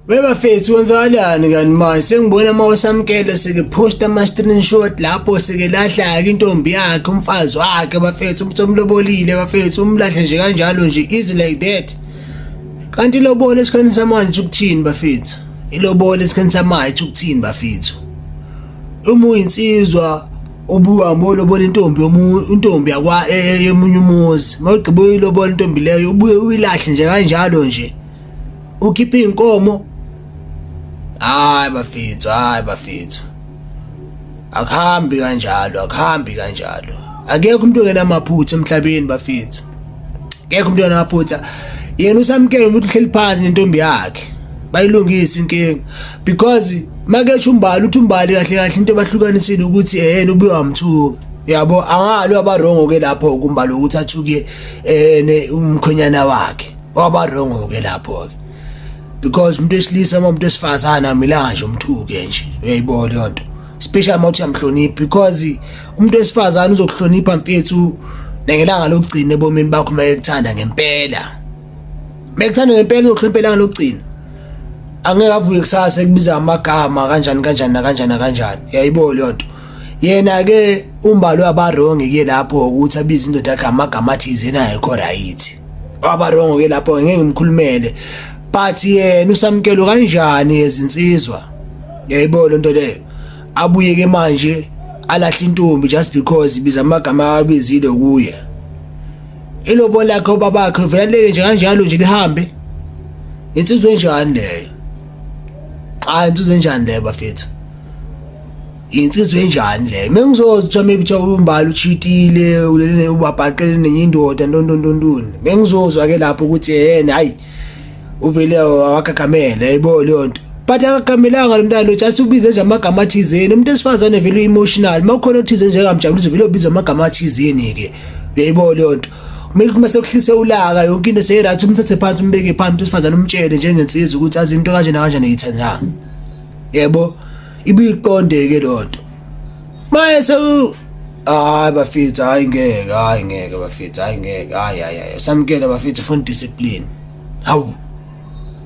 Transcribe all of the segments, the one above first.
Bebafethu wenzakalani kanti manje sengibona uma usamkele sekephosta ama-screenshot lapho sekelahla-ke intombi yakhe umfazi wakhe bafethu umuntu omlobolile bafethu umlahle nje kanjalo nje easy like that kanti ilobole esikhathini samanje ukuthini bafethu ilobole esikhathini samanje ukuthini bafethu uma uyinsizwa ubuhambe olobola intombi intombi yakwa e, e, emunye umuzi uma ugqibe uyilobola intombi leyo ubuye uyilahle nje kanjalo nje ukhiphe iy'nkomo hayi bafethu hayi bafethu akuhambi kanjalo akuhambi kanjalo akekho umuntu ongenamaphutha emhlabeni bafethu akekho umuntu ongenamaphutha yena usamkele umuntu uhleli phansi nentombi yakhe bayilungise inkinga because maketsho umbali uthi umbali kahle kahle into ebahlukanisile ukuthi ehena ubuye wamthuka yabo angalo abarongo ke lapho kumbali ukuthi athuke eh umkhonyana wakhe waba wrong ke lapho ke because umuntu esilisa uma umuntu esifazana amilanga nje umthuke nje uyayibona leyo nto special mawuthi uyamhlonipha because umuntu esifazana uzokuhlonipha mfethu nengelanga lokugcina ebomini bakho uma ekuthanda ngempela uma ekuthanda ngempela uzokuhlonipha ilanga lokugcina angeke avuke kusasa ekubiza amagama kanjani kanjani nakanjani nakanjani yayibona leyo nto yena ke umbalo abarongi ke lapho ukuthi abize indoda yakhe amagama athize nayekho right abarongo ke lapho ngeke ngimkhulumele but yena usamkelo kanjani ezinsizwa yayibona lento leyo abuye ke manje alahle intombi just because ibiza amagama abizile kuye ilobo lakhe ubabakhe veleke nje kanjalo nje lihambe insizwe enjani leyo cha insizwe enjani leyo bafethu insizwe enjani le mina ngizozi kuthiwa maybe kuthiwa umbali uchitile ulele ubabhaqele nenye indoda ntontontontoni mina ngizozwa-ke lapho ukuthi yena hhayi uvele wakagamela yayibona leyo nto but akagamelanga lo mntana lo just ubize nje amagama athizeni umuntu esifazane vele u-emotional uma ukhona othize njengamjabulisa vele ubiza amagama athizeni-ke uyayibona leyo nto kumele uma sekuhlise ulaka yonke into seyirathi umthathe phansi umbeke phansi umuntu esifazane umtshele njengensizwa ukuthi azi into kanjena kanjena yithandanga yebo ibiqondeke lonto maye sewu hayi bafethu hayi ngeke hayi ngeke bafethu hayi ngeke hayi hayi hayi samkela bafethu funa discipline hawu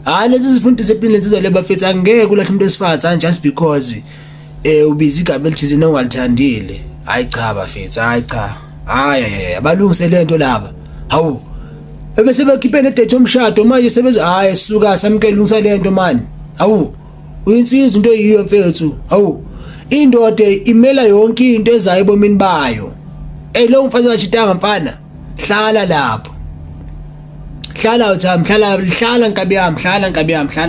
hayi lezi zifuna discipline lezi zale bafethu angeke ulahle umuntu wesifazane just because eh ubiza igama elithizini ongalithandile hayi cha bafethu hayi cha hayi balungise lento laba hawu ebese bakhiphe nedate yomshado manje sebeze hayi suka samkele unsa lento mani hawu uyinsizwa into eyiyo mfethu hawu indoda imela yonke into ezayo ebomini bayo ey lo mfazi kashitanga mfana hlala lapho hlala uthami hlala hlala nkabi yami hlala nkabi yami hlala